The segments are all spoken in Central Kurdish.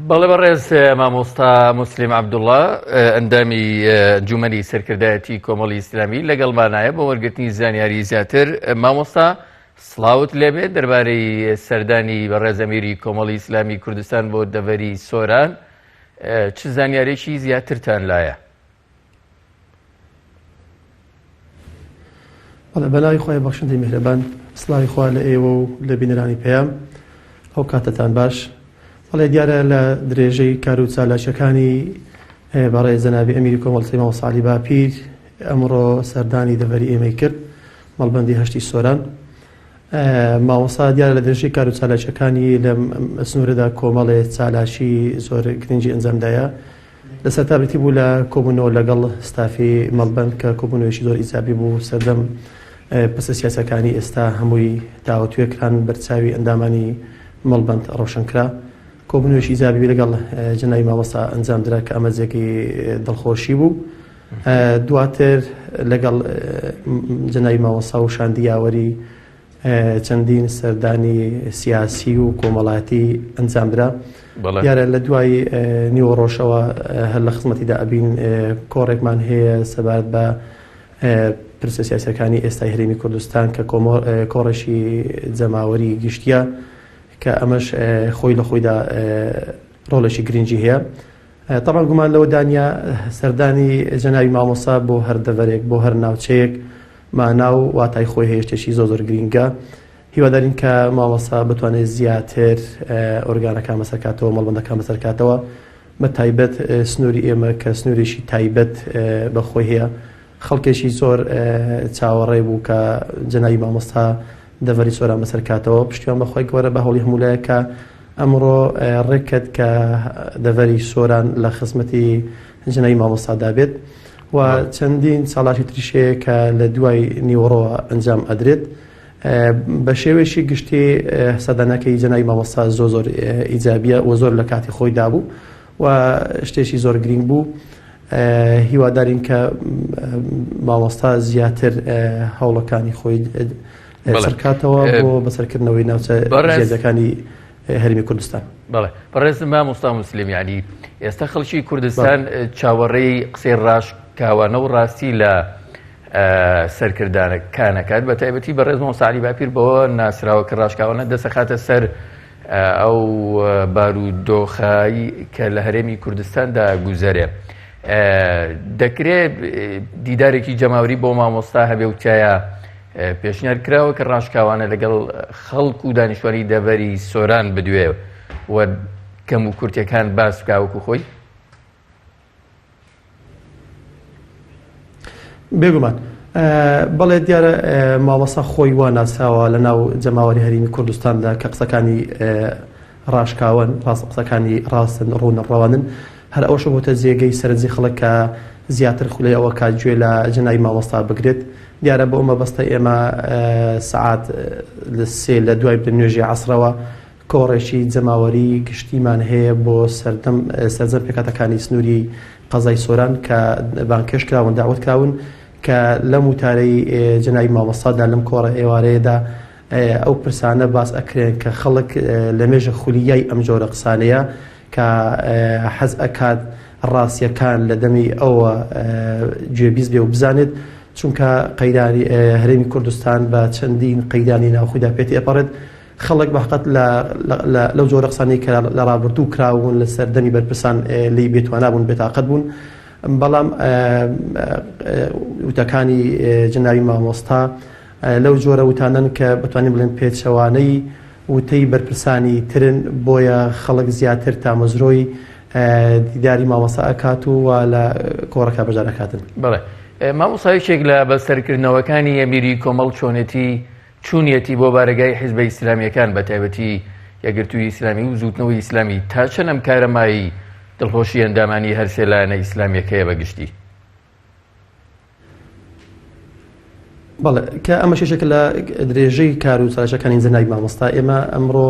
بەڵێ بەڕێز مامۆستا موسلیم عەبدوڵا ئەندامی ئەنجومەنی سەرکردایەتی کۆمەڵی ئیسلامی لەگەڵمانایە بۆ وەرگرتنی زانیاری زیاتر مامۆستا سڵاوت لێبێت دەربارەی سەردانی بەڕێز ئەمیری کۆمەڵی ئیسلامی کوردستان بۆ دەڤەری سۆران چ زانیارێکی زیاترتان لایە بەڵێ بەناوی خۆی بەخشندەی میهرەبان سلاوی خوا لە ئێوە و لە بینەرانی پەیام ئەو کاتتان باش بەڵێ دیارە لە درێژەی کار و چالاکیەکانی بەڕێ زەنابی ئەمیری کۆمەڵسی ماوەسالی باپیر ئەمڕۆ سەردانی دەڤەری ئێمەی کرد مەڵبندی هەشتی سۆران ماوەسا دیارە لە درێژەی کار و چالاکیەکانی لە سنوورەدا کۆمەڵێ چالاکی زۆر گرنگی ئەنجامدایە لە سەرتا بریتی بوو لە کۆبوونەوە لەگەڵ ستافی مەڵبەند کە کۆبوونەوەیەکی زۆر ئیجابی بوو، سەردەم پرسە سیاسیەکانی ئێستا هەمووی تاوتوێ کران، بەرچاوی ئەندامانی مەڵبەند ڕۆشن کرا. کۆبوونەوەیەکی ئیجابی لەگەڵ جەنابی مامۆستا ئەنجام درا کە ئەمە جێگەی دڵخۆشی بوو. دواتر لەگەڵ جەنابی مامۆستا و شاندی یاوەری چەندین سەردانی سیاسی و کۆمەڵاتی ئەنجامدرا دیارە لە دوای نیوەڕۆژەوە هەر لە خزمەتیدا ئەبین کۆڕێکمان هەیە سەبارەت بە پرسە سیاسەکانی ئێستای هەرێمی کوردستان کە کۆڕێکی جەماوەری گشتیە کە ئەمەش خۆی لە خۆیدا ڕۆڵێکی گرنگی هەیە تەبعەن گومان لەوە دانیە سەردانی جەنابی مامۆستا بۆ هەر دەڤەرێک بۆ هەر ناوچەیەک مانا و واتای خۆی هەیە شتێکی زۆ زۆر گرینگە هیوادارین کە مامۆستا بتوانێت زیاتر ئۆرگانەکان بەسەرکاتەوە مەڵبندەکان بەسەرکاتەوە بە تایبەت سنووری ئێمە کە سنوورێکی تایبەت بەخۆی هەیە خەڵکێکی زۆر چاوەڕێ بوو کە جەنابی مامۆستا دەڤەری سۆران بەسەر کاتەوە پشتیوان بەخوای گەورە بە هەوڵی هەمولایەک کە ئەمڕۆ ڕێککەت کە دەڤەری سۆران لە خزمەتی جەنابی مامۆستادا بێت و چەندین چاڵاکی تریشەیە کە لە دوای نیوەڕۆوە ئەنجام ئەدرێت بە شێوێکی گشتی سەدانەکەی جەنابی مامۆستا زۆ زۆر ئیجابە و زۆر لە کاتی خۆی دابوو و شتێکی زۆر گرینگ بوو هیوادارین کە مامۆستا زیاتر هەوڵەکانی خۆی سەرکاتەوە بۆ بەسەرکردنەوەی ناوچە بەڕێزەکانی هەرمی کوردستان بەڵێ بەڕێز مامۆستا مسلیم ینی ئێستا خەڵکی کوردستان چاوەڕێی قسەی ڕاش کاوانە و ڕاستی لە سەرکردانەکانەکات بە تایبەتی بەڕێز مۆساعلی باپیر بەوە ناسراوە کە ڕاشکاوانە دەسەخاتە سەر ئەو بارودۆخە ی کە لە هەرێمی کوردستان دا گوزەرێ دەکرێ دیدارێکی جەماوری بۆ مامۆستا هەبێ و تایە پێشنیار کراوە کە ڕاشکاوانە لەگەڵ خەڵک و دانیشتوانی دەڤەری سۆران بدوێ و کەم و کورتەکان باس بکە وەکو خۆی بێگومان بەڵێ دیارە مامەسا خۆی وا ناسراوە لە ناو جەماوەری هەرمی کوردستاندا کە قسەکانی ڕاشکاون ڕاست قسەکانی ڕاستن ڕوونە ڕەوانن هەر ئەوش بۆتە جێگەی سەرنجی خەڵک کە زیاتر خولەی ئەوە کا گوێ لە جەنای مامۆستا بگرێت دیارە بۆ ئەمە بەستە ئێمە سعات لە سێ لە دوای بنوێژی عسرەوە کۆڕێکی جەماوەری گشتیمان هەیە بۆ سەردەم سەرجەم پێکهاتەکانی سنووری قەزای سۆران کە بانگهێشت کراون داوەت کراون کە لەم وتارەی جەنابی مامۆستا دا لەم کۆڕە ئێوارەیەدا ئەو پرسانە باس ئەکرێن کە خەڵک لە مێژە خولیای ئەم جۆرە قسانەیە کە حەز ئەکات ڕاستیەکان لە دەمی ئەوە گوێبیست بێ و بزانێت چونکە قەیرانی هەرێمی کوردستان بە چەندین قەیرانی ناوخۆیدا پێتی ئەپەڕێت خەڵک بەقەت لە لە لەو جۆرە قسانەی کە لە ڕابردوو کراون لە سەردەمی بەرپرسان لێی بێتوانا بوون بێتاقەت بوون بەڵام وتەکانی جناوی مامۆستا لەو جۆرە وتانەن کە بەتوانین بڵێن پێچەوانەی وتەی بەرپرسانی ترن بۆیە خەڵک زیاتر تامەزرۆی دیداری مامەسا ئەکات و وا لە کۆڕەکە بەجارەکاتن بڵێ مامۆسایشێک لە بەسەرکردنەوەکانی ئەمیری کۆمەڵ چۆنێتی چوونیەتی بۆ بارەگای حیزبە ئیسلامیەکان بە تایبەتی یەکگرتووی ئیسلامی و زووتنەوەی ئیسلامی تا چەند ئەم کارە مایەی دڵخۆشی ئەندامانی هەرسێ لایەنە ئیسلامیەکەیە بە گشتی؟ بەڵێ کە ئەمە شێشێکە لە درێژەی کار و چارەشەکانی زەنای مامۆستا ئێمە ئەمڕۆ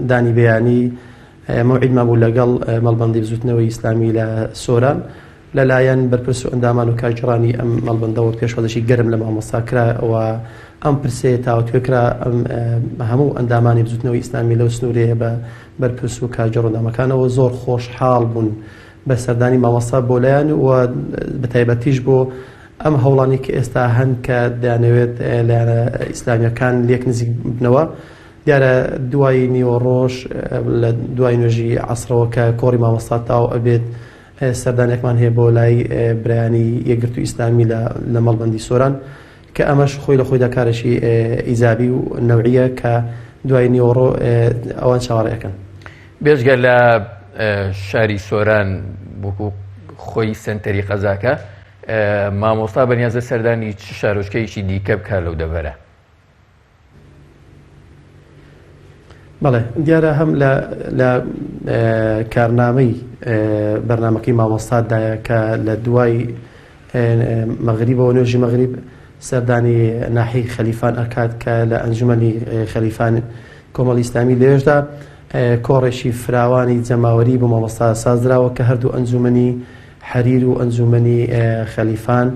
دانی بەیانی مەوعیدمان بوو لەگەڵ مەڵبندی بزوتنەوەی ئیسلامی لە سۆران لەلایەن بەرپرس و ئەندامان و کارگێڕانی ئەم مەڵبەندەوە پێشوازیی گەرم لە مامۆستا کرا و ئەم پرسەیە تاوتوێ کرا، هەموو ئەندامانی بزووتنەوەی ئیسلامی لەو سنوورەیە بە بەرپرس و کارگێڕ و ئەندامەکانەوە زۆر خۆشحاڵ بوون بە سەردانی مامۆستا بۆ لایان و بە تایبەتیش بۆ ئەم هەوڵانەی کە ئێستا هەن کە دەیانەوێت لایەنە ئیسلامییەکان لێک نزیک ببنەوە. دیارە دوای نیوەڕۆش لە دوای نوێژی عەسرەوە کە کۆڕی مامۆستا تاو ئەبێت، سەردانێکمان هەیە بۆ لای برایانی یەکگرتووی ئیسلامی لە لە مەڵبەندی سۆران کە ئەمەش خۆی لە خۆیدا کارێکی ئیجابی و نەوعیە کە دوای نیوەڕۆ ئەوان چاوەڕێەکەن بێژگە لە شاری سۆران بکو خۆی سنتەری قەزاکە مامۆستا بەنیازە سەردانی چ شارۆچکەیەکی دیکە بکە لەو دەبەرە بەڵێ دیارە هەم لە کارنامەی بەرنمەکەی مامۆستادایە کە لە دوای مەغریب بۆ نوێژی مەغریب سەردانی ناحی خەلیفان ئەکات کە لە ئەنجومنی خەلیفان کۆمەڵی ئسلامی لێژدا کۆڕێکی فراوانی جەماوەری بۆ مامۆستا سازراوە کە هەردوو ئەنجومنی حەریر و ئەنجوومەنی خەلیفان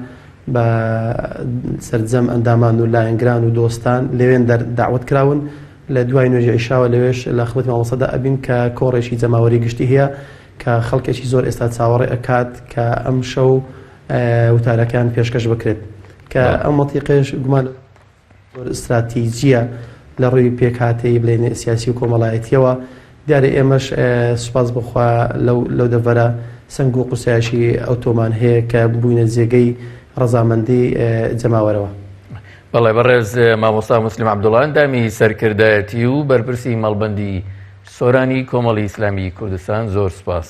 بە سەرجەم ئەندامان و لایەنگران و دۆستان لەوێن دەعوەت کراون لە دوای نوێژی عیشاوە لەوێش لە خزمەتی مامۆستادا ئەبین کە کۆڕێکی جەماوەری گشتی هەیە کە خەڵکێکی زۆر ئێستا چاوەڕێ ئەکات کە ئەم شەو وتارەکان پێشکەش بکرێت کە ئەم مەتیقێش گومان زۆر ستراتیجییە لە ڕووی پێکهاتەیی بڵێین سیاسی و کۆمەڵایەتییەوە، دیارە ئێمەش سوپاس بۆ خوا لەو دەڤەرە سەنگ و قورسایشی ئەوتۆمان هەیە کە بووینە جێگەی ڕەزامەندی جەماوەرەوە. بەڵێ بەڕێز مامۆستا موسلیم عەبدوڵا ئەندامی سەرکردایەتی و بەرپرسی مەڵبەندی سۆرانی کۆمەڵی ئیسلامی کوردستان زۆر سوپاس.